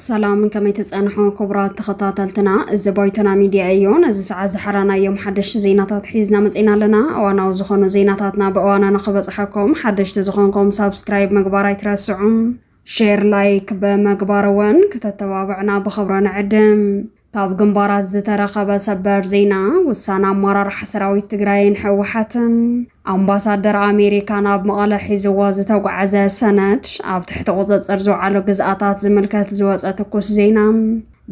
ሰላም ከመይ ተፀንሖ ክቡራት ተኸታተልትና፣ እዚ ባይቶና ሚድያ እዩ። ነዚ ሰዓት ዝሓራናዮም ሓደሽቲ ዜናታት ሒዝና መፂና ኣለና። እዋናዊ ዝኾኑ ዜናታትና ብእዋና ንክበፅሐኩም ሓደሽቲ ዝኾንኩም ሳብስክራይብ ምግባር ኣይትረስዑ፣ ሼር ላይክ ብምግባር እውን ክተተባብዕና ብኽብሪ ንዕድም። ካብ ግንባራት ዝተረኸበ ሰበር ዜና ውሳነ ኣመራርሓ ሰራዊት ትግራይን ህወሓትን ኣምባሳደር ኣሜሪካ ናብ መቐለ ሒዝዎ ዝተጓዓዘ ሰነድ ኣብ ትሕቲ ቁፅፅር ዝውዓሉ ግዝኣታት ዝምልከት ዝወፀ ትኩስ ዜና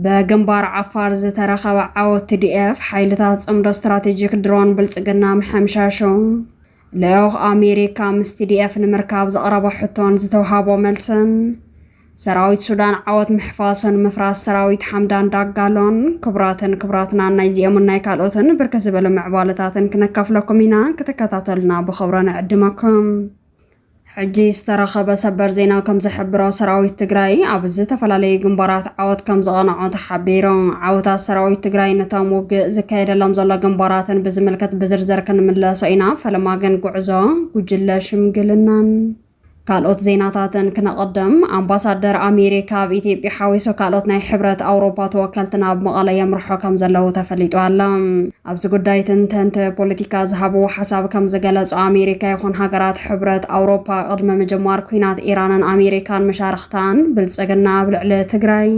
በግንባር ዓፋር ዝተረኸበ ዓወት ቲዲኤፍ ሓይልታት ፅምዶ ስትራቴጂክ ድሮን ብልፅግና ምሕምሻሹ ልዑኽ ኣሜሪካ ምስ ቲዲኤፍ ንምርካብ ዘቕረቦ ሕቶን ዝተውሃቦ መልስን ሰራዊት ሱዳን ዓወት ምሕፋሱን ምፍራስ ሰራዊት ሓምዳን ዳጋሎን ክቡራትን ክቡራትና ናይ ዚኦምን ናይ ካልኦትን ብርክ ዝበሉ ምዕባለታትን ክነካፍለኩም ኢና ክትከታተሉና ብኽብሮ ንዕድመኩም ሕጂ ዝተረኸበ ሰበር ዜና ከምዝሕብሮ ሰራዊት ትግራይ ኣብ ዝተፈላለዩ ግንባራት ዓወት ከምዝቐነዖ ተሓቢሩ። ዓወታት ሰራዊት ትግራይ ነቶም ውግእ ዝካየደሎም ዘሎ ግንባራትን ብዝምልከት ብዝርዝር ክንምለሶ ኢና፣ ፈለማ ግን ጉዕዞ ጉጅለ ሽምግልናን ካልኦት ዜናታትን ክነቐድም። ኣምባሳደር ኣሜሪካ ኣብ ኢትዮጵያ ሓዊሱ ካልኦት ናይ ሕብረት ኣውሮፓ ተወከልቲ ናብ መቐለ የምርሑ ከምዘለዉ ተፈሊጡ ኣሎ። ኣብዚ ጉዳይ ተንተንቲ ፖለቲካ ዝሃብዎ ሓሳብ ከም ዝገለጾ ኣሜሪካ ይኹን ሃገራት ሕብረት ኣውሮፓ ቅድሚ ምጅማር ኩናት ኢራንን ኣሜሪካን መሻርኽታን ብልጽግና ኣብ ልዕሊ ትግራይ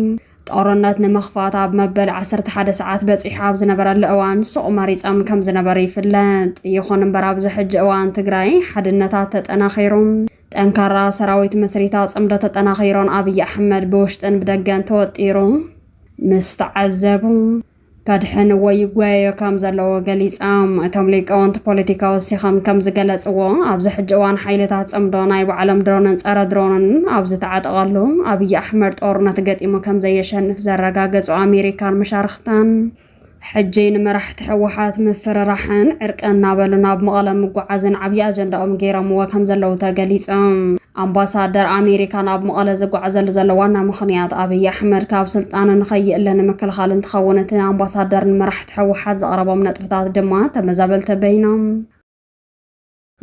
ጦርነት ንምኽፋት ኣብ መበል 11 ሰዓት በጺሑ ኣብ ዝነበረሉ እዋን ሱቕ መሪጸም ከም ዝነበሩ ይፍለጥ። ይኹን እምበር ኣብዚ ሕጂ እዋን ትግራይ ሓድነታት ተጠናኺሩ ጠንካራ ሰራዊት መስሪታ ጽምዶ ተጠናኺሮን ኣብይ ኣሕመድ ብውሽጥን ብደገን ተወጢሩ ምስ ተዓዘቡ ከድሕን ወይ ይጓየዮ ከም ዘለዎ ገሊጻም። እቶም ሊቃውንቲ ፖለቲካ ወሲኸም ከም ዝገለጽዎ፣ ኣብዚ ሕጂ እዋን ሓይልታት ጽምዶ ናይ ባዕሎም ድሮንን ጸረ ድሮንን ኣብ ዝተዓጠቐሉ፣ ኣብይ ኣሕመድ ጦርነት ገጢሙ ከም ዘየሸንፍ ዘረጋገጹ ኣሜሪካን መሻርኽታን፣ ሕጂ ንመራሕቲ ህወሓት ምፍርራሕን ዕርቅን እናበሉ ናብ መቐለ ምጉዓዝን ዓብዪ ኣጀንዳኦም ገይሮምዎ ከም ዘለዉ ተገሊጹ። ኣምባሳደር ኣሜሪካ ናብ መቐለ ዝጓዕዘሉ ዘሎ ዋና ምኽንያት ኣብይ ኣሕመድ ካብ ስልጣኑ ንከይእለ ንምክልኻል እንትኸውን እቲ ኣምባሳደር ንመራሕቲ ህወሓት ዘቕረቦም ነጥብታት ድማ ተመዛበልቲ በይኖም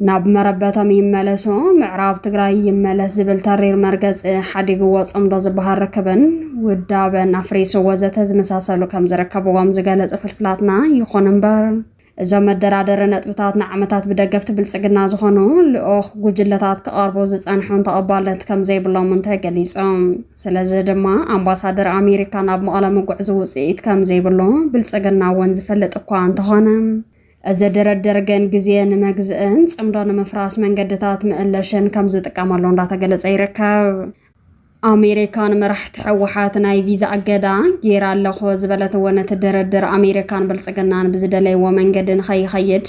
ናብ መረበቶም ይመለሱ፣ ምዕራብ ትግራይ ይመለስ ዝብል ተሪር መርገፂ ሓዲግዎ ፅምዶ ዝበሃል ርክብን ውዳበን ኣፍሪሱ ወዘተ ዝመሳሰሉ ከምዝርከብዎም ዝገለፁ ፍልፍላትና፣ ይኹን እምበር እዞም መደራደሪ ነጥብታት ንዓመታት ብደገፍቲ ብልጽግና ዝኾኑ ልኡኽ ጉጅለታት ክቐርቡ ዝጸንሑን ተቐባልነት ከም ዘይብሎምን ተገሊጾም። ስለዚ ድማ ኣምባሳደር ኣሜሪካ ናብ መቐለ ምጉዕዙ ውጽኢት ከም ዘይብሎ ብልጽግና እውን ዝፈልጥ እኳ እንተኾነ እዚ ድርድር ግን ግዜ ንመግዝእን ጽምዶ ንምፍራስ መንገድታት ምእለሽን ከም ዝጥቀመሉ እንዳተገለጸ ይርከብ። ኣሜሪካ ንመራሕቲ ሕወሓት ናይ ቪዛ እገዳ ጌራ ኣለኾ ዝበለት እውን እቲ ድርድር ኣሜሪካን ብልፅግናን ብዝደለይዎ መንገዲ ንኸይኸይድ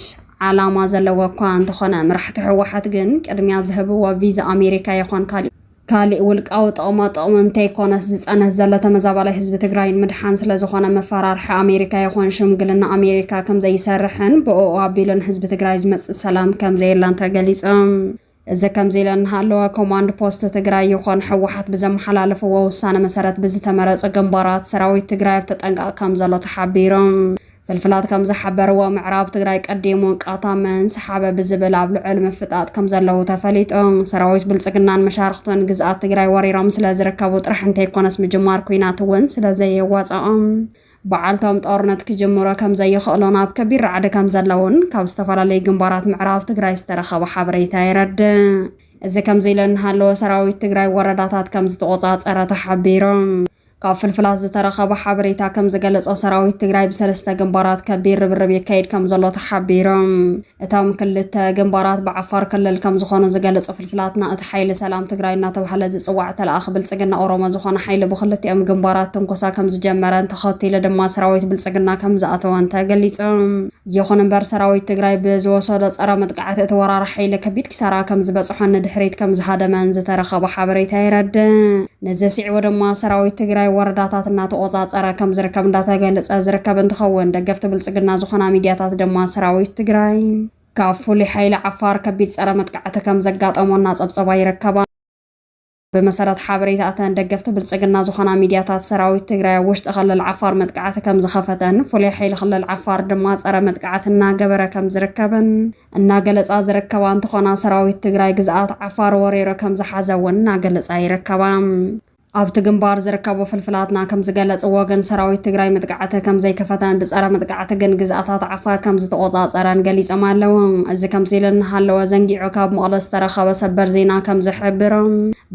ዓላማ ዘለዎ እኳ እንተኾነ መራሕቲ ሕወሓት ግን ቅድሚያ ዝህብዎ ቪዛ ኣሜሪካ ይኾን ካሊእ ካሊእ ውልቃዊ ጥቕማ ጥቕሚ እንተይኮነስ ዝፀንህ ዘሎ ተመዛባላይ ህዝቢ ትግራይ ንምድሓን ስለዝኾነ መፈራርሒ ኣሜሪካ ይኾን ሽምግልና ኣሜሪካ ከምዘይሰርሕን ብእኡ ኣቢሉ ንህዝቢ ትግራይ ዝመፅእ ሰላም ከምዘየለን ተገሊፆም። እዚ ከምዚ ኢለ እንሃለወ ኮማንድ ፖስት ትግራይ ይኹን ህወሓት ብዘመሓላለፍዎ ውሳነ መሰረት ብዝተመረፁ ግንባራት ሰራዊት ትግራይ ኣብ ተጠንቀቕ ከም ዘሎ ተሓቢሩ። ፍልፍላት ከም ዝሓበርዎ ምዕራብ ትግራይ ቀዲሙ ቃታ መን ሰሓበ ብዝብል ኣብ ልዑል ምፍጣጥ ከም ዘለዉ ተፈሊጡ። ሰራዊት ብልፅግናን መሻርኽቱን ግዝኣት ትግራይ ወሪሮም ስለ ዝርከቡ ጥራሕ እንተይኮነስ ምጅማር ኲናት እውን ስለ ዘየዋፅኦም ብዓልቶም ጦርነት ክጅምሮ ከምዘይኽእሉን ኣብ ከቢድ ራዕዲ ከምዘለውን ካብ ዝተፈላለዩ ግንባራት ምዕራብ ትግራይ ዝተረኸበ ሓበሬታ የረድእ። እዚ ከምዚ ኢሉ እናሃለወ ሰራዊት ትግራይ ወረዳታት ከምዝተቖፃፀረ ተሓቢሩ። ካብ ፍልፍላት ዝተረኸበ ሓበሬታ ከምዝገለፆ ሰራዊት ትግራይ ብሰለስተ ግንባራት ከቢድ ርብርብ የካይድ ከምዘሎ ተሓቢሩ። እቶም ክልተ ግንባራት ብዓፋር ክልል ከምዝኾኑ ዝገልፅ ፍልፍላትና እቲ ሓይሊ ሰላም ትግራይ እናተብሃለ ዝፅዋዕ ተለኣኺ ብልፅግና ኦሮሞ ዝኾነ ሓይሊ ብክልቲኦም ግንባራት ትንኮሳ ከምዝጀመረን ተኸቲሉ ድማ ሰራዊት ብልፅግና ከምዝኣተወን ተገሊፁ። ይኹን እምበር ሰራዊት ትግራይ ብዝወሰዶ ፀረ መጥቃዕቲ እቲ ወራሪ ሓይሊ ከቢድ ኪሳራ ከምዝበፅሖን ንድሕሪት ከምዝሃደመን ዝተረኸበ ሓበሬታ የረድእ። ነዚ ስዒቡ ድማ ሰራዊት ትግራይ ወረዳታት እናተቖፃፀረ ከም ዝርከብ እንዳተገለፀ ዝርከብ እንትኸውን ደገፍቲ ብልፅግና ዝኾና ሚድያታት ድማ ሰራዊት ትግራይ ካብ ፍሉይ ሓይሊ ዓፋር ከቢድ ፀረ መጥቃዕቲ ከም ዘጋጠሞ እናፀብፀባ ይርከባ። ብመሰረት ሓበሬታ እተን ደገፍቲ ብልፅግና ዝኾና ሚድያታት ሰራዊት ትግራይ ኣብ ውሽጢ ክልል ዓፋር መጥቃዕቲ ከም ዝኸፈተን ፍሉይ ሓይሊ ክልል ዓፋር ድማ ፀረ መጥቃዕቲ እናገበረ ከም ዝርከብን እናገለፃ ዝርከባ እንትኾና ሰራዊት ትግራይ ግዝኣት ዓፋር ወሪሩ ከምዝሓዘ እውን እናገለፃ ይርከባ። ኣብቲ ግንባር ዝርከቡ ፍልፍላትና ከምዝገለፅዎ ግን ሰራዊት ትግራይ ምጥቃዕቲ ከምዘይከፈተን ብፀረ ምጥቃዕቲ ግን ግዝኣታት ዓፋር ከምዝተቖፃፀረን ገሊፆም ኣለው። እዚ ከምዚ ኢሉ እናሃለወ ዘንጊዑ ካብ መቐለ ዝተረኸበ ሰበር ዜና ከምዝሕብሮ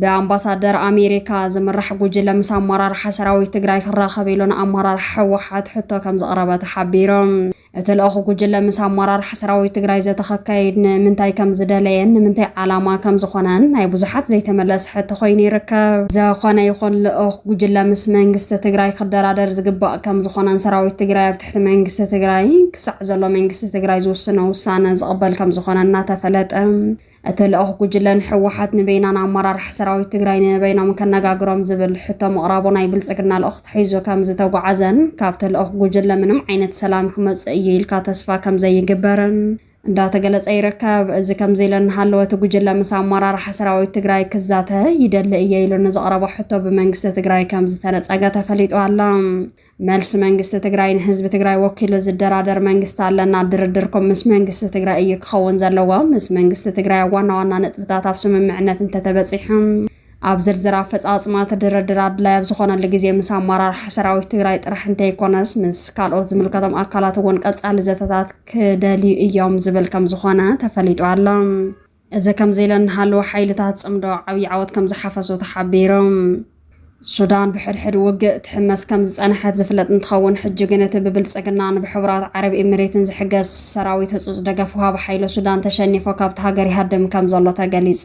ብኣምባሳደር ኣሜሪካ ዝምራሕ ጉጅለ ምስ ኣመራርሓ ሰራዊት ትግራይ ክራኸብ ኢሉ ንኣመራርሓ ህወሓት ሕቶ ከምዘቕረበ ተሓቢሩ። እቲ ልኣኹ ጉጅለ ምስ ኣመራርሓ ሰራዊት ትግራይ ዘተ ከካይድ ንምንታይ ከም ዝደለየን ንምንታይ ዓላማ ከም ዝኾነን ናይ ብዙሓት ዘይተመለሰ ሕቶ ኮይኑ ይርከብ። ዘኾነ ይኹን ልኡኽ ጉጅለ ምስ መንግስቲ ትግራይ ክደራደር ዝግባእ ከም ዝኾነን ሰራዊት ትግራይ ኣብ ትሕቲ መንግስቲ ትግራይ ክሳዕ ዘሎ መንግስቲ ትግራይ ዝውስኖ ውሳነ ዝቕበል ከም ዝኾነ እናተፈለጠ እቲ ልኡኽ ጉጅለ ንህወሓት ንበይናን ኣመራርሓ ሰራዊት ትግራይ ንበይኖም ከነጋግሮም ዝብል ሕቶ ምቕራቡ ናይ ብልፅግና ልኡኽ ተሒዙ ከምዝተጓዓዘን ካብቲ ልኡኽ ጉጅለ ምንም ዓይነት ሰላም ክመፅእ እዩ ኢልካ ተስፋ ከምዘይግበርን እንዳተገለፀ ይርከብ። እዚ ከምዚ ኢሉ እናሃለወ እቲ ጉጅለ ምስ ኣመራርሓ ሰራዊት ትግራይ ክዛተ ይደሊ እየ ኢሉ ንዘቕረቦ ሕቶ ብመንግስቲ ትግራይ ከምዝተነፀገ ተፈሊጡ ኣሎ። መልሲ መንግስቲ ትግራይ ንህዝቢ ትግራይ ወኪሉ ዝደራደር መንግስቲ ኣለና። ድርድርኩም ምስ መንግስቲ ትግራይ እዩ ክኸውን ዘለዎ። ምስ መንግስቲ ትግራይ ኣብ ዋና ዋና ነጥብታት ኣብ ስምምዕነት እንተተበፂሑ ኣብ ዝርዝር ኣፈፃፅማ እቲ ድርድር ኣድላይ ኣብ ዝኾነሉ ግዜ ምስ ኣመራርሓ ሰራዊት ትግራይ ጥራሕ እንተይኮነስ ምስ ካልኦት ዝምልከቶም ኣካላት እውን ቀፃሊ ዘተታት ክደልዩ እዮም ዝብል ከም ዝኾነ ተፈሊጡ ኣሎ። እዚ ከምዚ ኢለን እናሃለዋ ሓይልታት ፅምዶ ዓብዪ ዓወት ከምዝሓፈሱ ተሓቢሩ። ሱዳን ብሕድሕድ ውግእ ትሕመስ ከምዝፀነሐት ዝፍለጥ እንትኸውን ሕጂ ግን እቲ ብብልፅግናን ብሕቡራት ዓረብ ኤሚሬትን ዝሕገዝ ሰራዊት ህፁፅ ደገፍ ውሃቢ ሓይሎ ሱዳን ተሸኒፎ ካብታ ሃገር ይሃድም ከምዘሎ ተገሊፁ።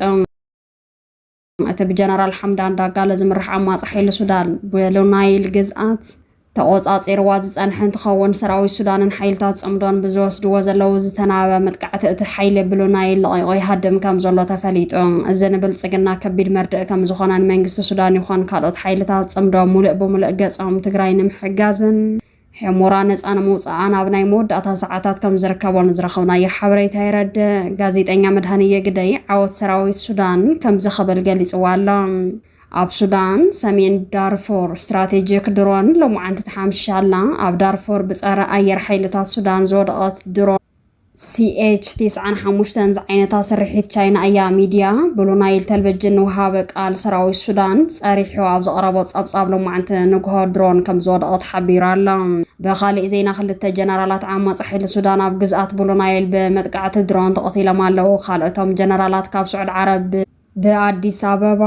እቲ ብጀነራል ሓምዳን ዳጋሎ ዝምራሕ ዓማጺ ሓይሊ ሱዳን ብሉናይል ግዝኣት ተቖጻጺርዋ ዝጸንሐ እንትኸውን ሰራዊት ሱዳንን ሓይልታት ጽምዶን ብዝወስድዎ ዘለዉ ዝተናበበ መጥቃዕቲ እቲ ሓይሊ ብሉናይል ለቒቑ ይሃድም ከም ዘሎ ተፈሊጡ። እዚ ንብልጽግና ከቢድ መርድእ ከም ዝኾነን መንግስቲ ሱዳን ይኾን ካልኦት ሓይልታት ጽምዶ ሙሉእ ብሙሉእ ገጾም ትግራይ ንምሕጋዝን ሑሞራ ነጻ ንምውጽኣ ናብ ናይ መወዳእታ ሰዓታት ከም ዝርከቦን ዝረኸብናዮ ሓበሬታ የረድእ። ጋዜጠኛ መድሃንየ ግደይ ዓወት ሰራዊት ሱዳን ከምዚ ክብል ገሊጽዋ ኣሎ፣ ኣብ ሱዳን ሰሜን ዳርፉር ስትራቴጂክ ድሮን ሎምዓንቲ ተሓምሺሻ ኣላ። ኣብ ዳርፉር ብጸረ ኣየር ሓይልታት ሱዳን ዝወደቐት ድሮን፣ ሲኤች ቴስዓን ሓሙሽተን ዝዓይነታ ስርሒት ቻይና እያ። ሚድያ ብሉ ናይል ተልቨጅን ንውሃበ ቃል ሰራዊት ሱዳን ፀሪሑ ኣብ ዘቕረቦ ፀብፃብ ሎማዕንቲ ንጉሆ ድሮን ከምዝወደቐት ሓቢሩ ኣሎ። ብኻሊእ ዜና ክልተ ጀነራላት ዓማፂ ሓይሊ ሱዳን ኣብ ግዝኣት ብሉ ናይል ብመጥቃዕቲ ድሮን ተቐቲሎም ኣለው። ካልኦቶም ጀነራላት ካብ ስዑድ ዓረብ ብኣዲስ ኣበባ፣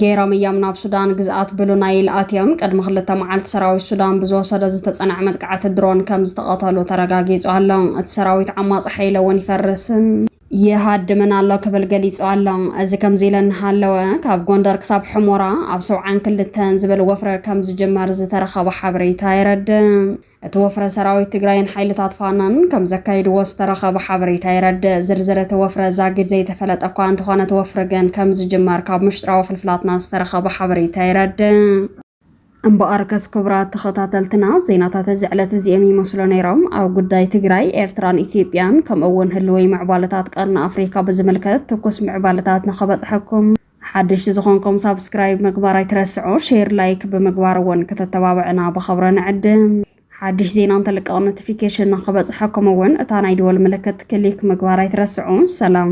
ገይሮም እዮም ናብ ሱዳን ግዝኣት ብሉ ናይል ኣትዮም። ቅድሚ ክልተ መዓልቲ ሰራዊት ሱዳን ብዝወሰዶ ዝተጸንዐ መጥቃዕቲ ድሮን ከም ዝተቐተሉ ተረጋጊጹ ኣሎ። እቲ ሰራዊት ዓማጺ ሓይሊ እውን ይፈርስን ይሃድምን ኣሎ ክብል ገሊጹ ኣሎ። እዚ ከምዚ ኢለ እናሃለወ ካብ ጎንደር ክሳብ ሕሞራ ኣብ ሰውዓን ክልተን ዝብል ወፍረ ከም ዝጅመር ዝተረኸበ ሓበሬታ የረድእ። እቲ ወፍረ ሰራዊት ትግራይን ሓይልታት ፋኖን ከምዘካይድዎ ዝተረኸበ ሓበሬታ የረድእ። ዝርዝር እቲ ወፍረ ዛጊድ ዘይተፈለጠ እኳ እንተኾነ እቲ ወፍሪ ግን ከምዝጅመር ካብ ምሽጥራዊ ፍልፍላትና ዝተረኸበ ሓበሬታ የረድእ። እምበኣርከስ ክቡራት ተኸታተልትና ዜናታት እዚ ዕለት እዚኦም ይመስሉ ነይሮም። ኣብ ጉዳይ ትግራይ፣ ኤርትራን ኢትዮጵያን ከምኡ እውን ህልዊ ምዕባለታት ቀርኒ ኣፍሪካ ብዝምልከት ትኩስ ምዕባለታት ንኸበፅሐኩም ሓደሽቲ ዝኾንኩም ሳብስክራይብ ምግባር ኣይትረስዑ፣ ሼር ላይክ ብምግባር እውን ክተተባብዕና ብኸብረ ንዕድም። ሓድሽ ዜና እንተልቀቕ ኖቲፊኬሽን ንክበፅሐኩም እውን እታ ናይ ደወል ምልክት ክሊክ ምግባር ኣይትረስዑ። ሰላም